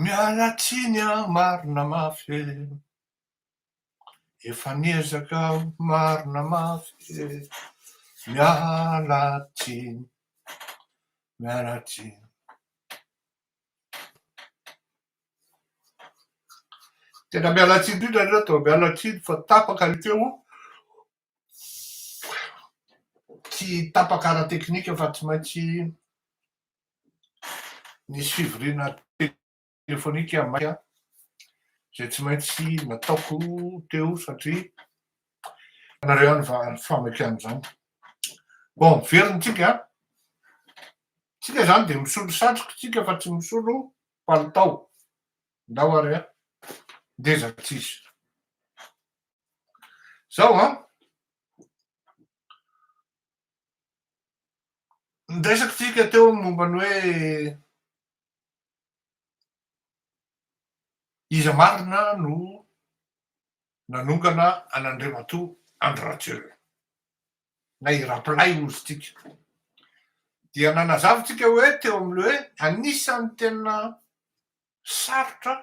Miala tsiny an marina mafy e efa niezaka aho marina mafy e miala tsiny miala tsiny Tena miala tsiny indrindra anie raha toa miala tsiny fa tapaka ny feo, tsy tapaka ara-teknika fa tsy maintsy nisy fivoriana telefonika maika izay tsy maintsy nataoko teo satria ianareo ihany fa famaky an'izany. Bon, very ny tsika an! Tsika izany dia misolo satriko tsika fa tsy misolo palitao ndao ary a! ndeza tsisy zao a! Niresaka tsika teo ny momba ny hoe iza marina no nanongana an'Andriamatoa Andry Rajoelina. na i Rapalay nositsika. Dia nanazava tsika hoe teo amin'ny hoe anisan'ny tena sarotra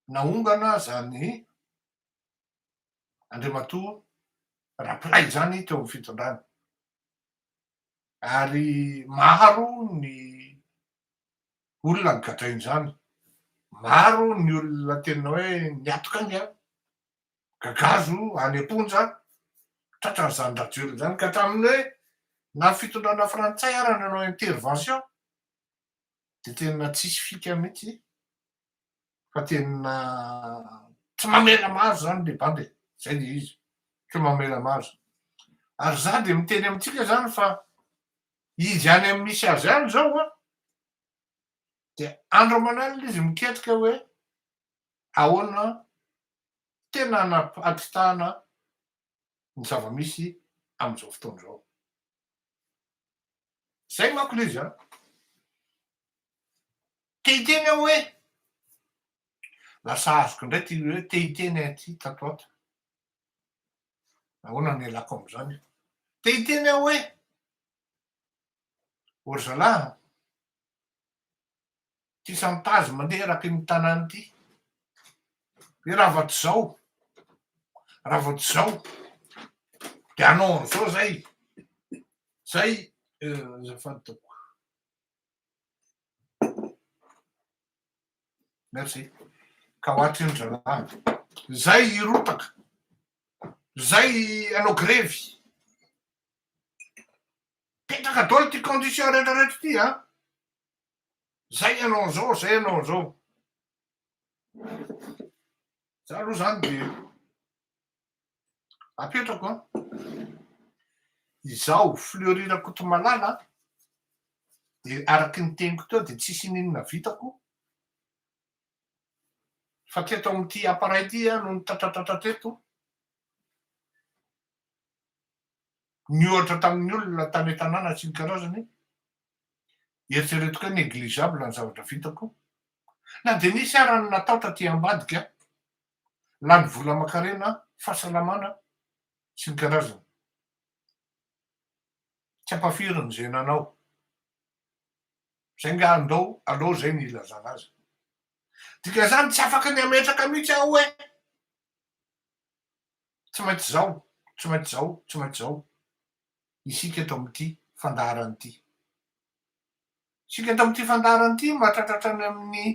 naongana izany Andriamatoa Rapalay izany teo amin'ny fitondrana. Ary maro ny olona nigadrain'izany. Maro ny olona tena hoe niatoka aingana. gagazo any am-ponja tratran'izany rajoelina izany ka hatramin'ny hoe na ny fitondrana frantsay ara nanao intervention dia tena tsisy fika mihitsy fa tena tsy mamela mahazo izany le banda e zay le izy tsy mamela mahazo ary za dia miteny amintsika zany fa izy any amin'ny misy azy any zao a dia andro aman'alina izy miketrika hoe ahoana tena anapitahana ny zava-misy amin'izao fotoana izao. Izay manko ilay izy an! Te hiteny aho hoe, lasa azoko indray ity hoe te hiteny aho ity tato ho ato. Ahoana no ialako amin'izany? Te hiteny aho hoe, ô ry zalahy an! ity sampazy mandeha eraky ny tanàna ity. Hoe raha vao tsy zao, raha vao tsy zao, de hanao an'zao zay. Zay azafady tompoko. Merci. Ka ho atrino zalahy. Zay hirotaka. Zay hanao grevy. Petraka daholo ty condition rehetra rehetra ty an. Zay ianao zao, zay ianao zao. Za aloha zany de apetrako an. Izaho Fleury Rakotomalala de araky ny teniko teo de tsisy ininona vitako fa teto amin'ity appareil ity aho no nitratratratra teto. Niohatra tamin'ny olona tany an-tanàna sy ny karazany Eritrereto kay negligeable ny zavatra vitako. Na dia nisy ara ny natao taty ambadika, lany vola aman-karena, fahasalamana, sy ny karazany. Tsy ampahafirin' izay nanao. Zay nga andao aloha zay ny ilazana azy. Dikan'izany tsy afaka ny hametraka mihitsy aho hoe tsy maintsy zao, tsy maintsy zao, tsy maintsy zao. isika eto amin'ity fandaharana ity. Isika eto amin'ity fandaharana ity mahatratra hatrany amin'ny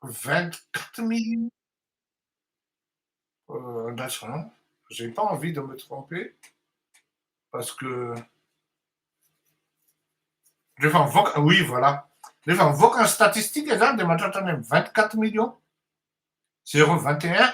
vingt quatre mille andraso an j'ai pas envie de me tromper parce que rehefa mivoaka oui voilà rehefa mivoaka ny statistique zany dia mahatratra any amin'ny vingt quatre millions zéro vingt et un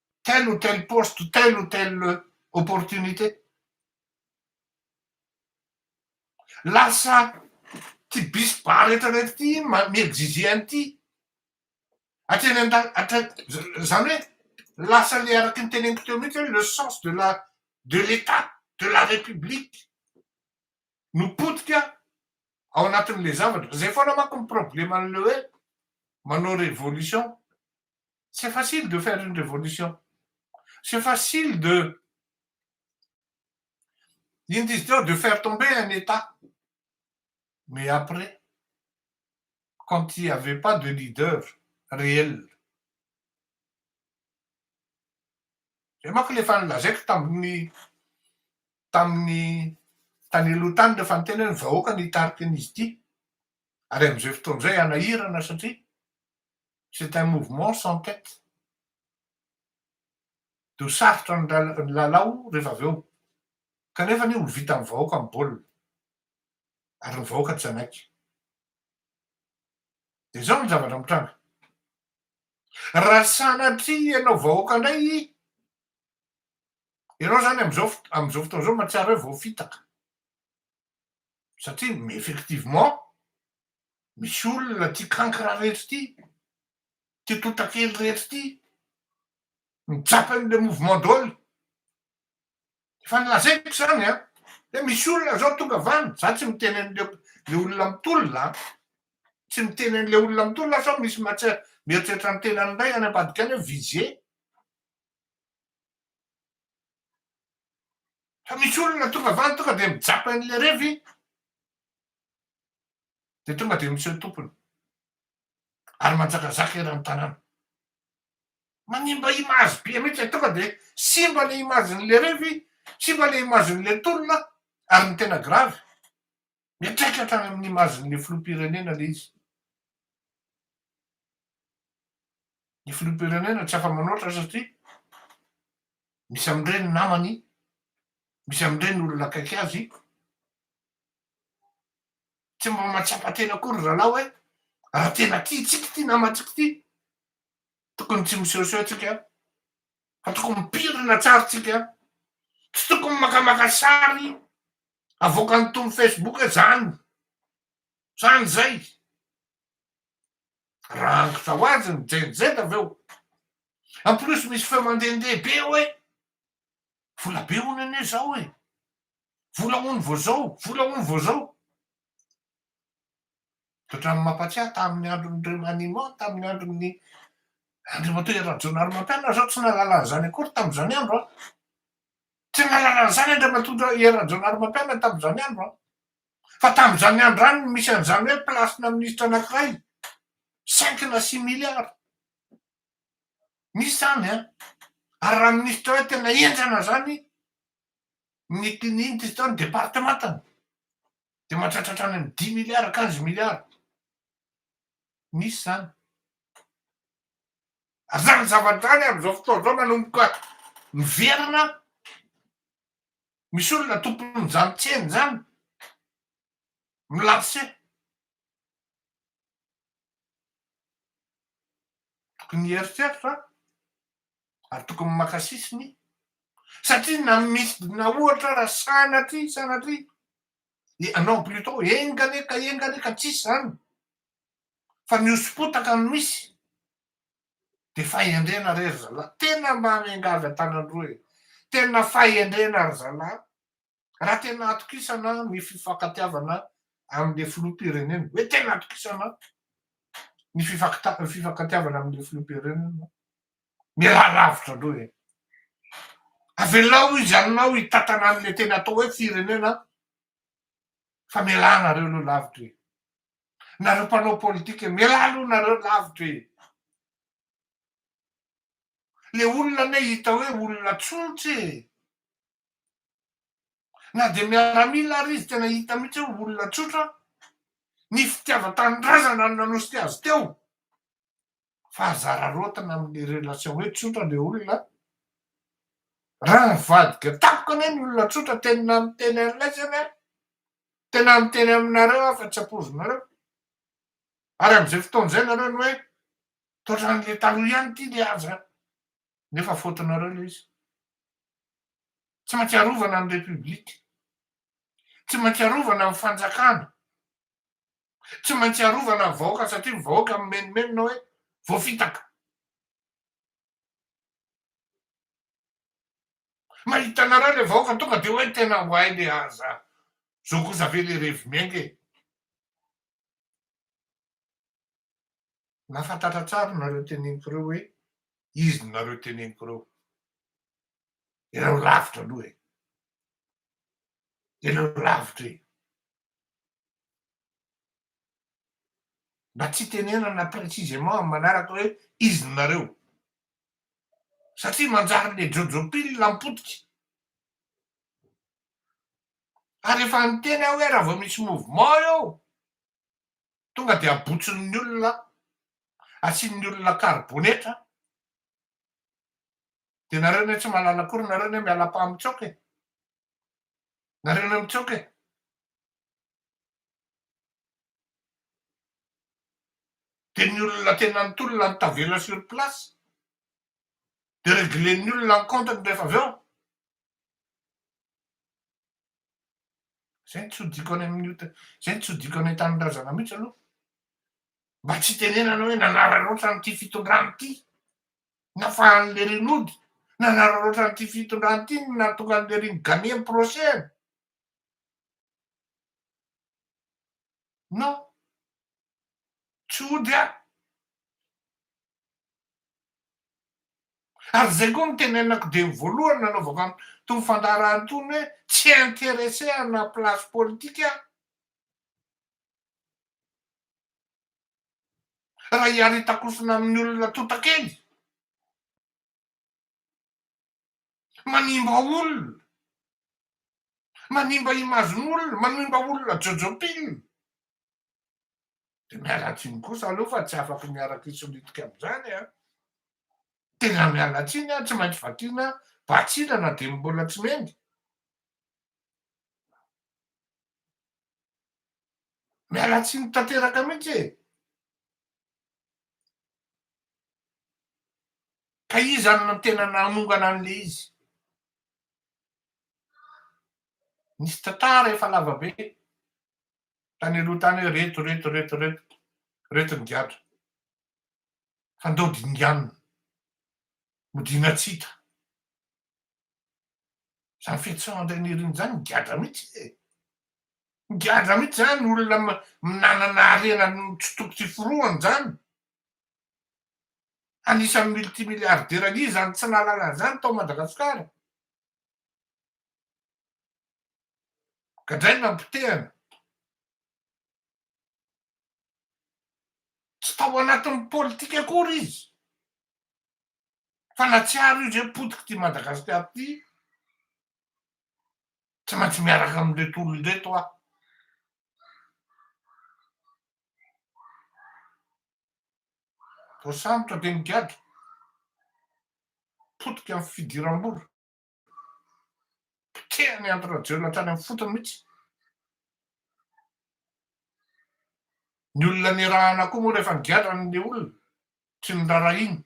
telle ou telle poste, telle ou telle opportunité. Lasa ity bis bar rehetra rehetra ity mi-exiger an'ity. Hatreny an-dal-, hatrany, izany hoe lasa ilay araka ny teneniko teo mihitsy hoe le sens de la, de l'Etat, de la République no potika ao anatin'ilay zavatra. Izay foana manko ny probleman'ilay hoe manao révolution C'est facile de faire une révolution. C'est facile de iny dizy teo de faire tomber un état. Mais après, quand il n'y avait pas de leader réel, zay manko le efa nilazaiko tamin'ny tamin'ny tany aloha tany le efa niteny hoe ny vahoaka no hitarika an'izy ity. Ary amin'izay fotoana izay hanahirana satria c'est un mouvement sans tête de ho sarotra ny lalao rehefa avy eo kanefa anie ho vitan'ny vahoaka ny baolina ary ny vahoaka tsy hanaiky de zao ny zavatra mitranga raha sanatria ianao vahoaka indray ianao zany am'zao am'zao fotoana zao mahatsiaro hoe voafitaka satria effectivement misy olona ity kankra rehetra ity, ity totakely rehetra ity mitsapa an'ilay mouvement dol, efa nolazaiko izany an, hoe misy olona zao tonga avany, za tsy miteny an'ilay le olona mitolona an, tsy miteny an'ilay olona mitolona sao misy mahatsia mieritreritra ny tenany indray any ambadika any hoe visé. Fa misy olona tonga vany tonga dia mijapa eny le revy dia tonga dia miseho tompony ary manjakazaka eran'ny tanàna. Manimba image be mihitsy tonga dia simba le image-n'le revy, simba le image-n'le tolona ary ny tena grave Miatrika hatrany amin' ny imazin' ny filoham-pirenena ilay izy. Ny filoham-pirenena tsy afa-manoatra satria misy amin' ireny namany, misy amin' ireny olona akaiky azy. Tsy mba mahatsapa tena akory ry rahalahy hoe raha tena tia antsika ity namantsika ity, tokony tsy misehoseho tsika fa tokony mipirina tsara tsika, tsy tokony makamaka sary Avoakan'ny Tompo Facebook zany zany zay raha hangotra ho azy ny jenjed avy eo en plus misy feo mandehandeha be eo e vola be hono anie zao e vola hono vao zao vola hono vao zao ohatran'ny mampatsiahy tamin'ny andron'ny remaniement tamin'ny andron'ny andriamatoa Rajonarimampianina zao tsy nahalala an'izany akory tamin'izany andro a Tsy mahalala an'izany Andriamatoa Hery Rajaonarimampianina tamin'izany andro an! Fa tamin'izany andro izany no misy an'izany hoe place-na minisitra anankiray, cinq na six milliards. Misy izany an! Ary raha minisitra hoe tena henjana izany ny tiany inona izy teo, ny departementany, dia mahatratra hatrany amin'ny dix milliards, quinze milliards. Misy izany. Zany zavatra zany amin'izao fotoana izao manomboka miverina, misy olona tompon'izany tsena izany, mi-lancer. Tokony hieritreritra ary tokony maka sisiny satria na midina ohatra raha sanatria, sanatria, non plutot, enga anie ka, enga anie ka, tsisy izany. fa ny hoso-potaka no misy de fahendrena re ry zalahy, tena mba miangavy an-tanan'roa e, tena fahendrena ry zalahy raha tena atokisana ny fifankatiavana amin'le filoham-pirenena hoe tena atokisana ny fifankatiavana amin'le filoham-pirenena mialà lavitra aloha e, avelao izy aminao hitantana an'le tena atao hoe firenena fa mialà nareo aloha lavitra e. Nareo mpanao politika mialà aloha nareo lavitra e! Le olona anie hita hoe olona tsotra e! Na dia miaramila ary izy tena hita mihitsy hoe olona tsotra, ny fitiavan-tanindrazana no nanosika azy teo. fa aza araraotina amin'ny relation hoe tsotra le olona raha nivadika tamiko anie ny olona tsotra teny na miteny an'ilay zany aho tena miteny aminareo aho fa tsy ampoizinareo ary am'izay fotoana izay nareo ny hoe toatran'le taloha ihany ity le aza nefa fotonareo le izy tsy maintsy arovana ny repoblika tsy maintsy arovana ny fanjakana Tsy maintsy arovana ny vahoaka satria ny vahoaka mimenomenona hoe voafitaka. Mahita anareo ilay vahoaka tonga dia hoe tena oay le aza. Zao kosa ve le revy miainga e. Nafantatra tsara nareo teneniko ireo hoe izy nareo teneniko ireo. Ireo lavitra aloha e. Ireo lavitra e. Mba tsy itenenana précisément amin'ny manaraka hoe izy no nareo. Satria manjary le jojo pile ampotika. Ary efa niteny aho hoe raha vao misy mouvement eo tonga dia abotsin'ny olona, asian'ny olona karibonetra, dia nareo anie tsy mahalala akory nareo anie miala-pamitsoaka e. Nareo no mitsoka e! Dia ny olona tena nitolona no tavela sur place. Dia reglen'ny olona ny compte-ny rehefa avy eo. Izay no tsy hodiko any amin'ny ota, izay no tsy hodiko any an-tanindrazana mihitsy aloha. Mba tsy itenenana hoe nanararaotra an'ity fitondrana ity. nafahan'i Lery nody nanararaotra an'ity fitondrana ity no nahatonga an'i Lery ni-gagner ny procès-ny. Non. Tsy hody aho. Ary izay koa no nitenenako dieny voalohany nanaovako an'itony fandaharahana itony hoe tsy intéressé amina place politique aho. raha iaritakosina amin'ny olona tonta kely? Manimba olona, manimba image-n'olona, manimba olona jojo pin. Dia miala tsiny kosa aloha fa tsy afaka miaraka hisolitika amin'izany an! Tena miala tsiny an, tsy maintsy vakiana batsina na dia ny mbola tsy mendy. Miala tsiny tanteraka mihitsy e! Ka iza no tena nanongana an'le izy? Nisy tantara efa lava be tany aloha tany hoe reto reto reto reto reto ny gadra fa ndao dinganina, modiana tsy hita. Zany fihetseham Andrianirina zany migadra mihitsy e! Migadra mihitsy zany olona minanana harena tsy toko tsy forohany zany. Anisan'ny multimilliardaire anie zany tsy nahalala an'zany tao Madagasikara. Gadraina ny potehana. Tsy tao anatin'ny politika akory izy. fa na tsy aro io zay potiky ty Madagascar ty tsy maintsy miaraka amindreto olona reto aho voasambotra de migadra potika am fidiram-bola Potehan'i Andry Rajoelina hatrany amin'ny fotony mihitsy. Ny olona nirahana koa moa rehefa nigadra ny olona, tsy norarahina.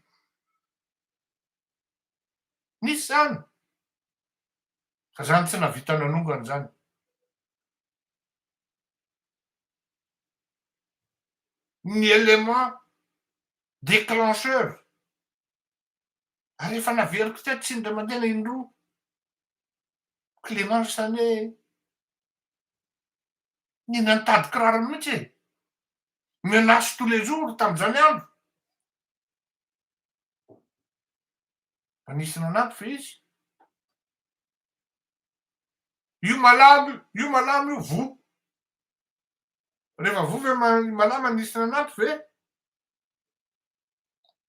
Nisy izany. Fa izany tsy nahavita nanongana izany. Ny élément déclencheur ary efa naveriko teto tsy indray mandeha ilay indroa Clément izany hoe ny nitady kiraro mihitsy e menace tous les jours tamin'izany andro fa nisy nanampy ve izy io malamo io malamo io voa rehefa voa ve malama nisy nanampy ve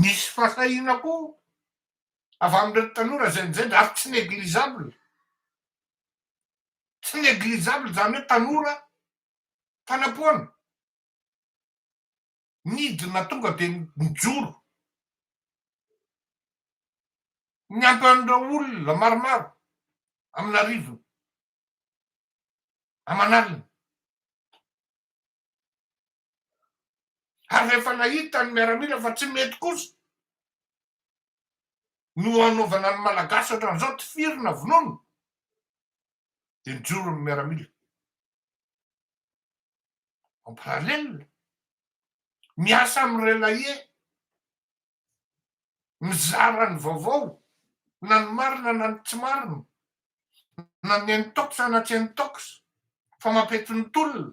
Misy fahasahiana koa avy amin'ireto tanora izay mijainga ary tsy négligeable. Tsy négligeable izany hoe tanora mpanapoana. Nidina tonga dia nijoro. Niampy an'ireo olona maromaro amin'arivony, aman'alina. ary rehefa nahita ny miaramila fa tsy mety kosa no hanaovana ny malagasy ohatran'izao tifiry na vonono dia nijoro ny miaramila en parallèle miasa amin'ny relayer mizara ny vaovao na ny marina na ny tsy marina na ny intox na tsy intox fa mampietsin'ny tolona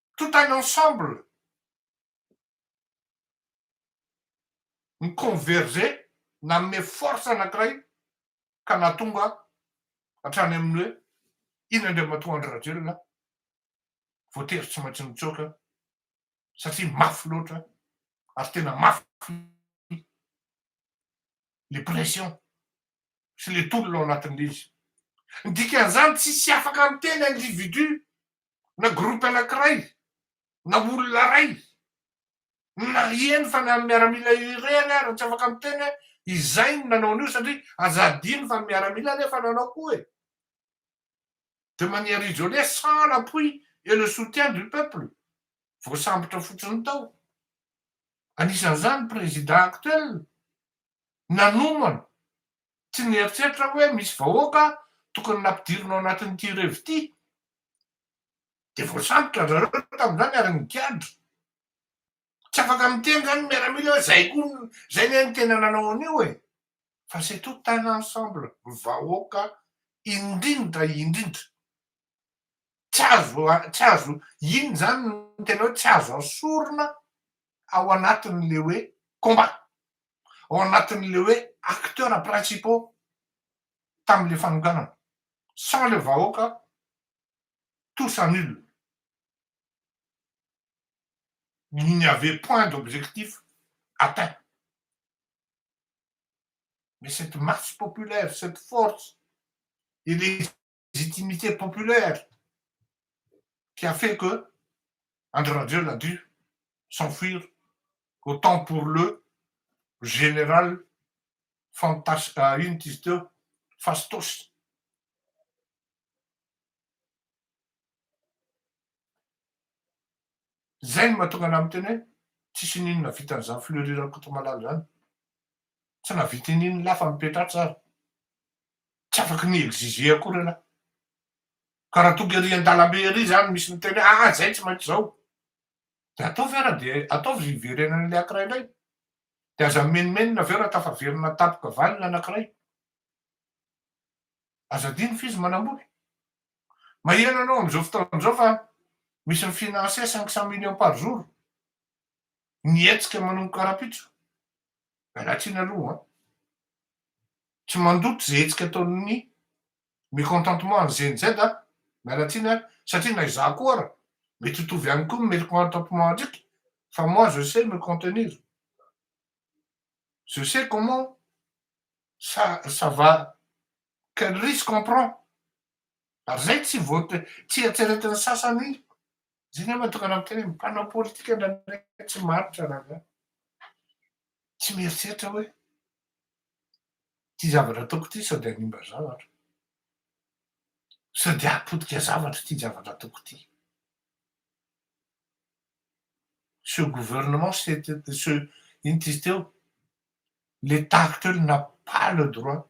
tout un ensemble mi-converger nanome force anankiray ka nahatonga hatrany amin'ny hoe iny Andriamatoa Andry Rajoelina voatery tsy maintsy nitsoaka satria mafy loatra ary tena mafy le pression sy le tolona ao anatin'ilay izy. Ny dikan'izany tsy hisy afaka miteny individu na groupe anakiray na olona ray na eny fa na miaramila irery ary tsy afaka miteny hoe izay no nanao an'io satria aza adino fa ny miaramila nefa nanao koa e! de manière isolée sans l'appui et le soutien du peuple voasambotra fotsiny tao anisan'izany président actuel nanomana, tsy nieritreritra aho hoe misy vahoaka tokony nampidirina ao anatin'ity revy ity. Dia voasambotra ry zareo tamin'izany ary nigadra. Tsy afaka miteny izany ny miaramila hoe izay koa, izay anie no tena nanao an'io e! Fa c'est tout un ensemble, vahoaka indrindra indrindra, Tsy azo, tsy azo, iny izany no tena hoe tsy azo asorina ao anatin'ilay hoe combat, ao anatin'ilay hoe acteurs principaux tamin'ilay fanonganana. Sans ilay vahoaka, tout s'annule. Il n'y avait point d'objectif atteint. Mais cette masse populaire, cette force et les légitimité populaire qui a fait que Andry Rajoelina a dû s'enfuir au temps pour le général fantas inona ity izy teo fastos. Zay no mahatonga anah miteny hoe tsisy n'inona vitan'izany Fleury Rakotomalala zany. Tsy nahavita n'inona lafa mipetra atsy ary. tsy afaky ny exiger akory ialahy ka raha tonga ery andalambe ery zany misy miteny hoe ah zay tsy maintsy zao de ataovy ara de ataovy hiverenany le akiray ndray de aza mimenomenona avy eo raha tafaverina tampoka valiny anakiray aza adino f'izy manambola maheno anao am'izao fotoana zao fa misy mifinance cinq cent millions par jour ny hetsika manomboka rapitso Anatiny aloha an! Tsy mandoto izay hetsika ataon'ny mécontentement an'i Gen Z an! Miala tsiny an! Satria na izaho koa ara, mety hitovy ihany koa ny mécontentement antsika fa moi je sais me contenir. Je sais comment ça ça va quel risque on prend! Ary izay tsy voate-, tsy eritreretin'ny sasany Izy iny aho tokana miteny hoe mpanao politika indraindray tsy mahantra rangahy. Tsy mieritreritra hoe ity zavatra ataoko ity sao dia hanimba zavatra. Sao dia hahapotika zavatra ity zavatra ataoko ity. Ce gouvernement, c'est ce inona izy teo? Le tahaka teo le n'a pas le droit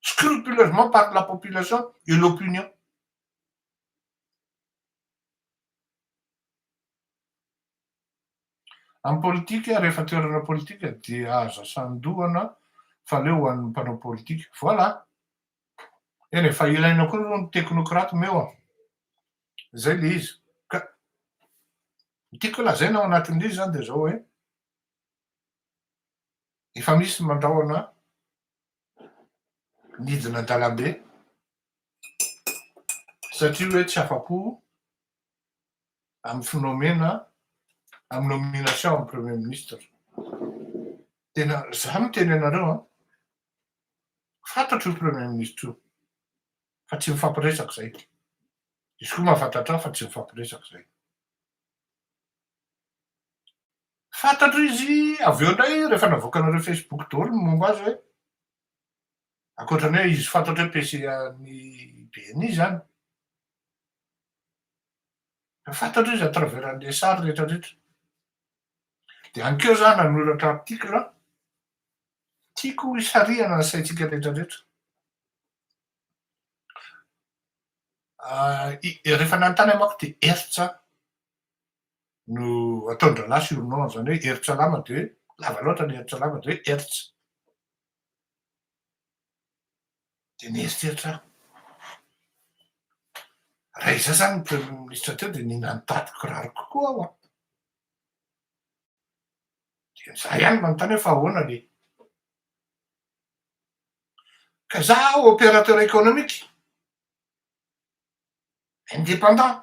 scrupuleusement par la population et l'opinion. Amin'ny politika, rehefa toerana politika dia aza sandohana fa leo ho an'ny mpanao politika. Voilà. Eny e, fa ilaina koa aloha ny teknokraty meo an. Izay le izy. Ka ny tiako lazaina ao anatin'ilay izy zany dia zao hoe efa misy mandrahona nidina an-dalambe satria hoe tsy afa-po amin'ny finomena amin'ny nomination amin'ny premier ministre. Tena za no teny anareo an. Fantatro io premier ministre io fa tsy mifampiresaka izay. Izy koa mahafantatra ahy fa tsy mifampiresaka izay. Fantatro izy avy eo indray rehefa navoakanareo Facebook daholo ny momba azy hoe ankoatra ny hoe izy fantatro hoe PC an'ny BNI izany. Fa fantatro izy à travers an'ilay sary rehetrarehetra. Dia any koa za nanoratra article aho. Tiako hisarihana ny saintsika rehetrarehetra. Ah, i- rehefa nanontany amako dia Hertz aho. no ataon-drahalahy surnom, izany hoe herin-tsalama dia lava loatra ilay herin-tsalama dia hoe Hertz. Dia nieritreritra aho. Raha izaho izany ny premier ministre teo dia nina nitady kiraro kokoa aho an. Dia izaho ihany manontany hoe fa ahoana le. Ka izaho opérateur économique, indépendant,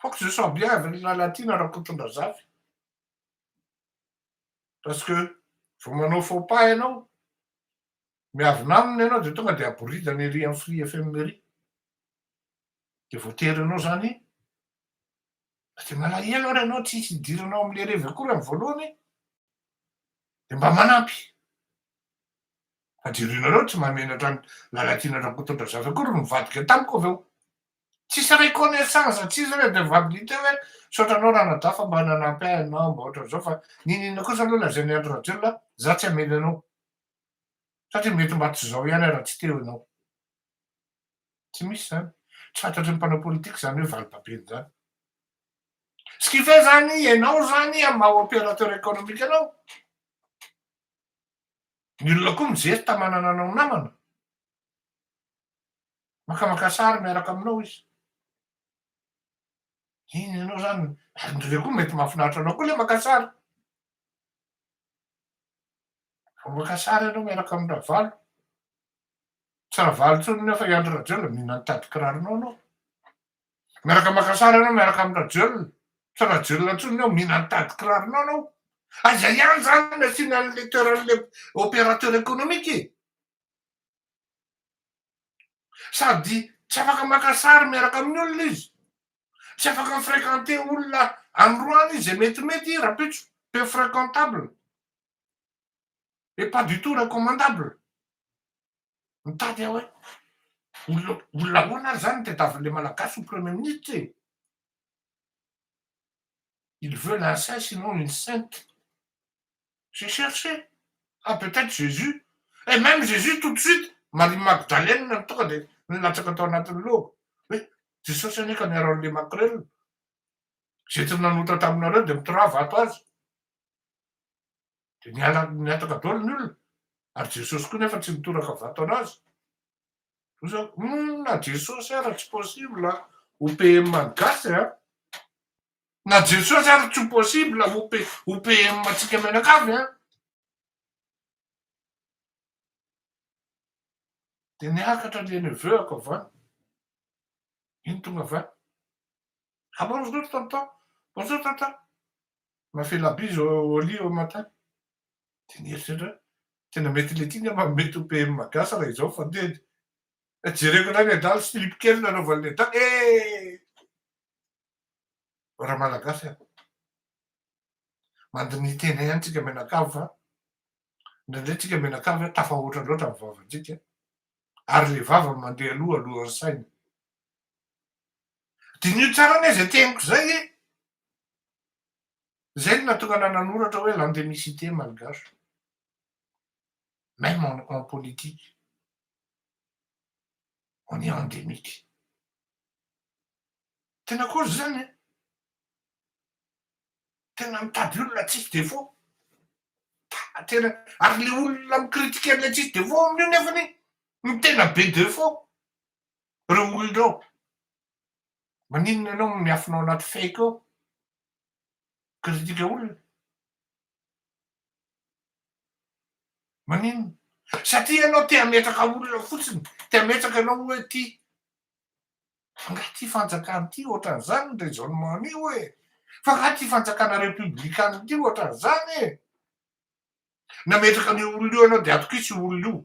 Foko ze soabiavy ry Lalatiana Rakotondrazafy. Parce que vao manao faux pas ianao, miavona aminy ianao dia tonga dia aboridana ery amin'ny Free FM ery. Dia voatery ianao izany iny. Dia malahelo ary ianao tsy hisy hidiranao amin'ilay revy akory amin'ny voalohany dia mba manampy. Fa jerenareo tsy mahamenatra an'i Lalatiana Rakotondrazafy akory nivadika tamiko avy eo. Tsisy reconnaissance tsisy re de validité hoe misaotra anao Ranadahy fa mba nanampy ahy ianao mba ohatran'izao fa niniana kosa aloha lazain'i Andry Rajoelina za tsy hamely anao satria mety mba tsy zao ihany aho raha tsy teo ianao. Tsy misy zany. Tsy fantatry ny mpanao politique zany hoe valibabeny zany. Ce qui fait zany ianao zany amin'ny maha opérateur économique anao. Ny olona koa mijery tamanana anao namana. Makamaka sary miaraka aminao izy. Iny ianao zany, andreo koa mety mahafinaritra anao koa le maka sary. Vao maka sary ianao miaraka amin'ny Ravalo. Tsy Ravalo intsony nefa i Andry Rajoelina mihina ny tadin-kiraronao anao. Miaraka maka sary ianao miaraka amin'ny Rajoelina. Tsy Rajoelina intsony ny ao, mihina ny tady kiraronao ianao. Aiza ihany izany no asiana an'ilay toeran'ilay opérateur économique e? Sady tsy afaka maka sary miaraka amin'ny olona izy. Tsy afaka mi-fréquenter olona any Roany izy izay metimety i Rapitso. Peu fréquentable. Et pas du tout recommandable. Mitady aho hoe olona olona ahoana ary zany ny tadiavin'ilay Malagasy ho Premier Ministre e? Il veut l'inceste sinon une sainte. J'ai cherché. Ah peut-être Jésus. Et même Jésus tout de suite, Marie Magdalene no tonga dia nilatsaka tao anatin'ny lohako. Hoe Jesosy anie ka miaro an'ilay makrel. Izay tsy nanoatra taminareo dia mitorava ato azy. dia niala nihataka daholo ny olona, ary Jesosy koa nefa tsy nitoraka vato anazy. Oza, hum, na Jesosy ara tsy possible ho PM an'ny gasy a. Na Jesosy ara tsy possible ho ho PM antsika mianakavy a. Dia niakatra le neveu-ako avy any. Iny tonga avy any. Ah bonjour tonton, bonjour tonton, on a fait la bise au lit au matin. Dia nieritreritra hoe tena mety le ty ny ama mety ho PM gasy raha izao fandehany. Jereko indray ny adala slip kely nanaovan'ny adala eh! Raha malagasy ah. Mandinihy tena ihany tsika mianakavy fa indraindray tsika mianakavy tafahoatra loatra ny vavantsika ary le vava mandeha aloha alohan'ny saina. Diniho tsara anie izay teniko izay e! Izay no nahatonga anà nanoratra hoe l'endemicité malgache, même en en politique, on est endémique. Tena kozy izany e! Tena mitady olona tsisy défaut. Ta- Tena ary le olona mi-critiquer an'ilay tsisy défaut amin'io nefany ny tena be défaut. reo olona reo, maninona enao no miafina ao anaty fake ao, critique olona, maninona, satria enao te hametraka olona fotsiny, te hametraka enao oe ty, angaha ty fanjakana ty otran'zany ny raisonnement nio e, fa angaha ty fanjakana republican ty otran'zany e, nametraka an'io olona io enao de atokisa io olona io.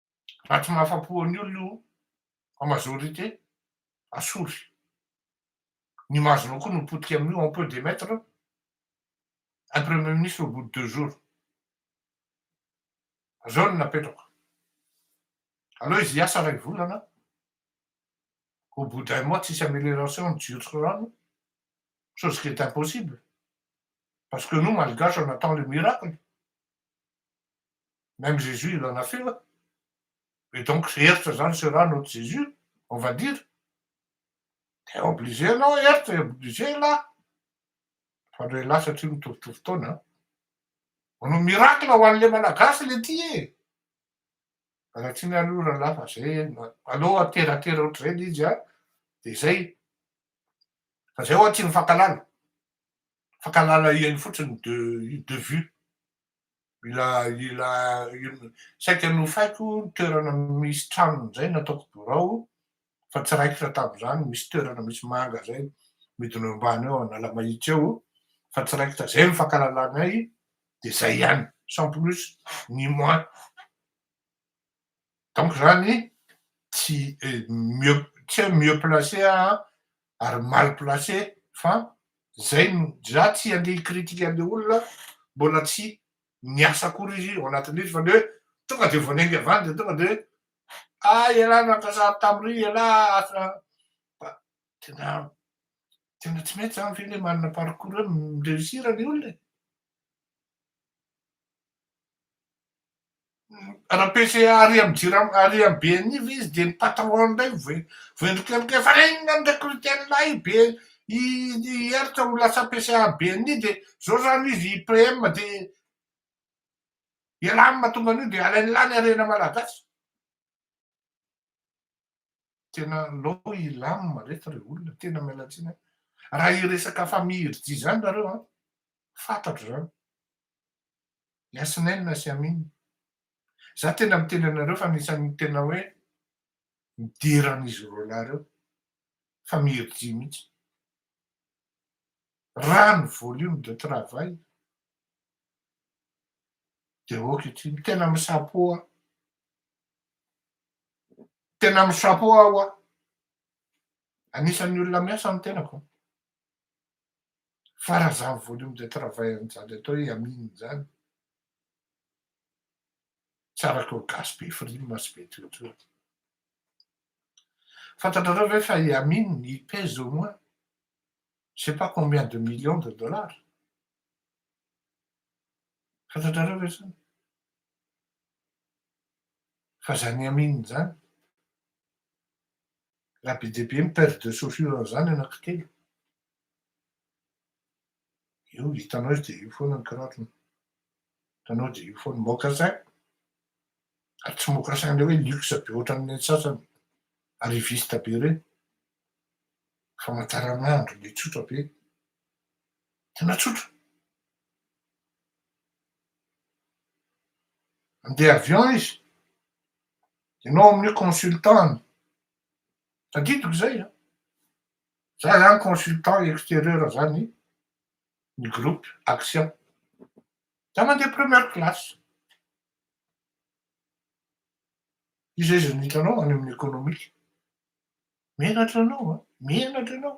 Raha tsy mahafa-po an'ny olona io en majorité, asory. Ny image-nao koa no potika amin'io, on peut demettre un premier ministre au bout de deux jours. Zao no napetrako. Aleo izy hiasa iray volana, au bout d'un mois tsisy amelioration ny jirotsy rano, chose qui est impossible, parce que nous malgaches on attend le miracle, Même Jésus il en a fait wa? Et donc tsy eritra zany ce ra notre Jésus on va dire? Dia obligé ianao eritra et obligé elah fa ndray elah satria mitovitovy taona an! Manao miracle ho anle malagasy le ty e! Anatiny any io ralah fa zay aleo ateratera ohatrizay le izy an! Dia zay! Fa zay ho'a tsy mifankalala! Fankahalala ihany fotsiny de de vue ilay ilay saika nofaiko ny toerana misy tranony izay nataoko birao fa tsy raikitra tamin'izany misy toerana misy manga izay midina eo ambany eo Analamahitsy eo fa tsy raikitra izay no fankalalanay dia izay ihany sans plus ni moins donc zany tsy mieux tsy hoe mieux placé aho ary mal placé fa zay no za tsy handeha hi-critique an'le olona mbola tsy niasa akory izy ao anatin'ilay fa le hoe tonga de vao niainga avy any de tonga de hoe ah ialahy nankasary tam'ry ialahy asa fa tena tena tsy mety zany ve le manana parcours hoe mi-reussir le olona e. Raha PCA ary amin'ny jirama ary amin'ny BNI ve izy dia ny patron indray vo- voendrika an'ireo fa inona no recruter an'ilay BNI i Hery ho lasa PCA an'ny BNI dia izao izany izy i PM dia ialahy no mahatonga an'io dia alainy lahy ny harena malagasy. Tena lou i Lam reto re olona, tena miala tsiny an. Raha hiresaka famille Irdy zany nareo an, fatatro zany. Yasneen sy Amin. Za tena miteny anareo fa anisan'ny tena hoe midera an'izy roa lahy reo, famille Irdy mihitsy. Raha ny volume de travail dia ok ity, tena misapoa Tena mi chapeau aho an! Anisan'ny olona miasa ny tenako an! Fa raha izany volume de travail an'izany atao hoe Amin izany, tsy araka eo gasy be frime sy be toetra eo. Fantatrareo ve fa i Amin il pèse au moins je sais pas combien de millions de dollars? Fantatrareo ve izany? Fa zany Amin zany. Raha be dia be ny paire de chaussures an'izany anankitelo. Io hitanao izy dia io foana ny kiraron. Hitanao dia io foana. Mocassin. Ary tsy mocassin ilay hoe luxe be ohatran'ny sasany. Arriviste be ireny. Famataranandro ilay tsotra be. Tena tsotra. Andeha avion izy, ianao amin'io consultant-ny, tadidiko izay an! Za zany consultant exterieur za ny ny groupe action, za mandeha première classe, iza iza no hitanao any amin'ny economique? Menatra ianao an! Menatra ianao!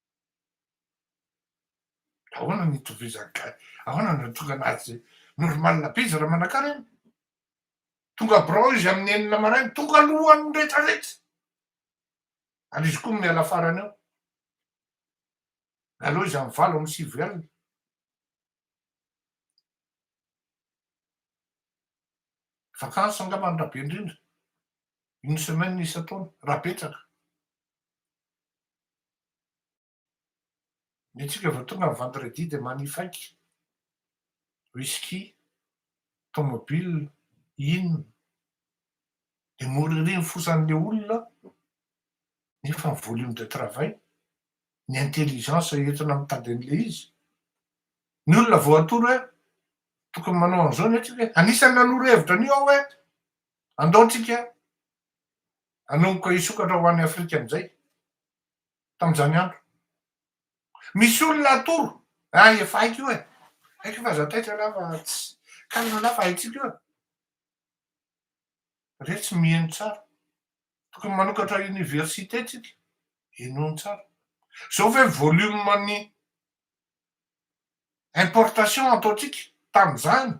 Ahoana no itovizan'ny ga-, ahoana no ahatonga azy normal be izy raha manakara iny? Tonga birao izy amin'ny enina maraina, tonga alohan'ny rehetra rehetra, ary izy koa miala farany eo, mialoha izy amin'ny valo amby sivy alina. Vacances angamba ny raha be indrindra, une semaine isan-taona, raha betsaka. Ny antsika vao tonga ny vendredi dia manifaika, whisky, tomobile, inona. Dia mora ery ny fosan'ilay olona nefa ny volume de travail, ny intelligence entina mitady an'ilay izy. Ny olona vao atoro hoe tokony manao an'izao ny antsika, anisan'ny nanoro hevitra an'io aho hoe andao antsika hanomboka hisokatra ho any Afrika amin'izay, tamin'izany andro. Misy olona atoro, ah efa haiko io e, haiko fa za taitra lah fa tsy, kalina lah fa haintsika io e. Re tsy miheno tsara, tokony manokatra université tsika, henoiny tsara. Zao ve volume ny importation ataontsika tamin'izany,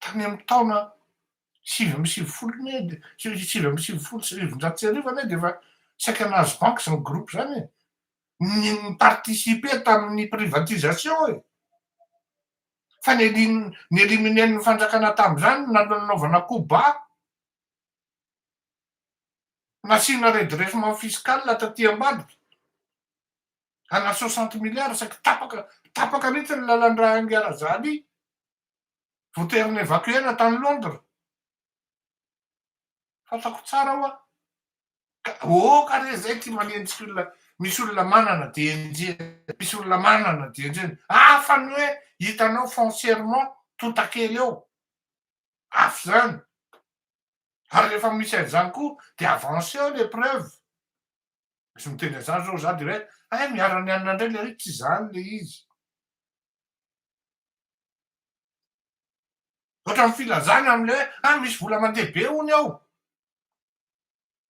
tany amin'ny taona sivy amby sivifolo anie dia sivy amby sivifolo sy sivinjato sy arivo anie dia efa saika nahazo banky izany groupe izany e! ny ni-participer tamin'ny privatisation e! fa ny elin- ny eliminer-n'ny fanjakana tamin'izany na- nanaovana coup bas, nasiana redressement fiscal taty ambadika. Ana soixante milliards saiky tapaka tapaka mihitsy ny lalan-dra Enga Razali voatery evacuer-na tany Londres. Fantako tsara hoa. Ka oh ka re zay ty manenjika olona misy olona manana dia enjehina misy olona manana dia enjehina hafa ny hoe hitanao foncièrement totakely eo hafa zany ary rehefa misy an'izany koa dia avanceo les preuves Misy miteny an'izany izao za de hoe hay miharan'ny anona indray le ry tsy izany le izy. Ohatran'ny filazana amin'ilay hoe hay misy vola mandeha be hono ao.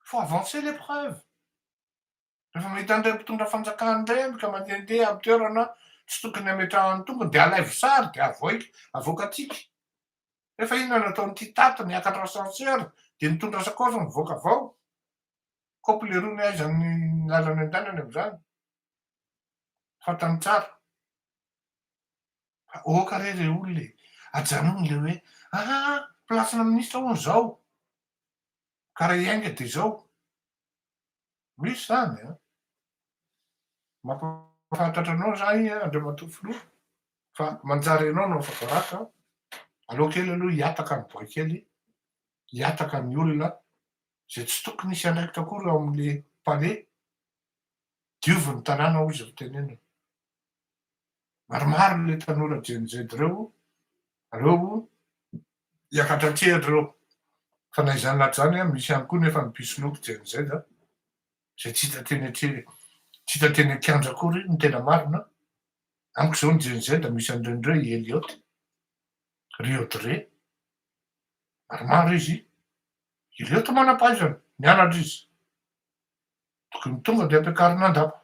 Faut avancer les preuves. Rehefa mahita an'ireny mpitondra fanjakana ireny ka mandehandeha amin'ny toerana tsy tokony hametrahany ny tongony dia alaivo sary dia avoaika avoakantsika. Nefa inona no ataon'ity Tate niakatra ascenseur dia nitondra sakaosy mivoaka avao. Kôpy leromy aiza ny lalana andehanany amzany? Fantany tsara. Fa ôka re re olona e, ajanogny le hoe aa place-na ministra hono zao ka raha hiainga de zao. Misy zany an. Mampahafantatra anao zany Andriamatoa Filoha fa manjary ianao no afaka ratra an. Aleo kely aloha hihataka ny boay kely, hihataka ny olona izay tsy tokony hisy andraikitra akory ao amin'ny Palais, diovy ny tanàna hoy izy ry tenenana. Maromaro ilay tanora Gen Z ireo ireo hiakatra an-tsehatra ireo. Fa na izany na izany, misy ihany koa nefa ny mpisoloky Gen Z izay tsy hita teny an-tsehatra, tsy hita teny an-kianja akory ny tena marina. Amiko izao ny Gen Z misy an'ireny ireo i Elliot, ry Audrey, maromaro izy, Ireto manam-pahaizana nianatra izy. Tokony tonga dia ampiakarina an-dapa.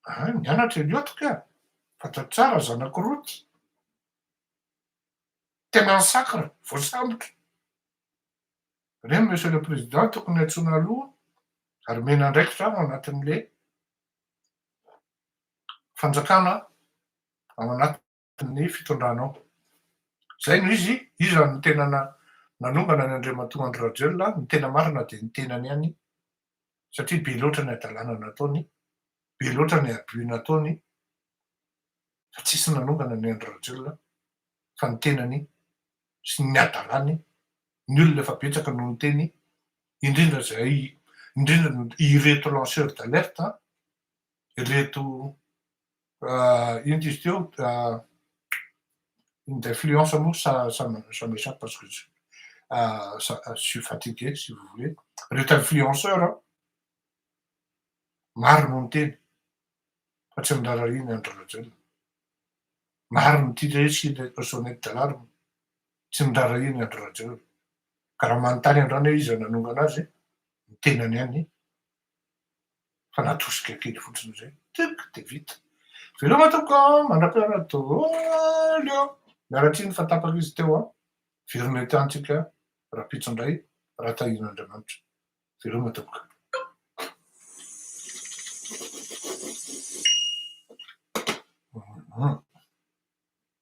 Ah, nianatra i Liot kah! Fantatro tsara ny zanak'i Roty. Tena ny sakra, voasambotra. Re ny Monsieur le Président tokony antsoina aloha ary omena andraikitra ao anatin'ilay fanjakana ao anatin'ny. ny fitondranao. Izay no izy, iza no tena nanombana an' Andriamatoa Andry Rajoelina, ny tena marina dia ny tenany ihany, satria be loatra ny hadalana nataony, be loatra ny abus nataony, fa tsisy nanombana an' Andry Rajoelina fa ny tenany sy ny hadalany, ny olona efa betsaka no niteny, indrindra izay, indrindra ireto lanceurs d'alerte, ireto Euh, int izy teo euh, une influence moa ça, ça, ça m'échappe parce que euh, ça, je suis fatigué si vous voulez reto influenceur hein. maro no niteny fa tsy nirarahiny andry rajoelina maro no tia hoe sy sonety dalarme tsy nirarahiny andry rajoelina ka raha manontany andrana izy nanongana azy ny tenany any Fa natosika kely fotsiny izay, tic, dia vita. Veloma tompoko a! Mandra-piara daholo eo! Miala tsiny fa tapaka izy teo an! Veloma eto ihany tsika rahampitso indray raha tahian' Andriamanitra. Veloma tompoko. Hum.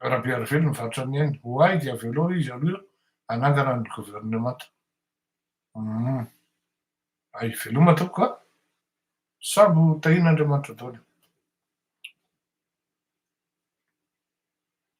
Rabearivelo mivarotra ny ainy. Ho ahy dia avelao izy aloha hanangana ny governemanta. Humm. Hay, veloma tompoko a! Sambo tahian'Andriamanitra daholo.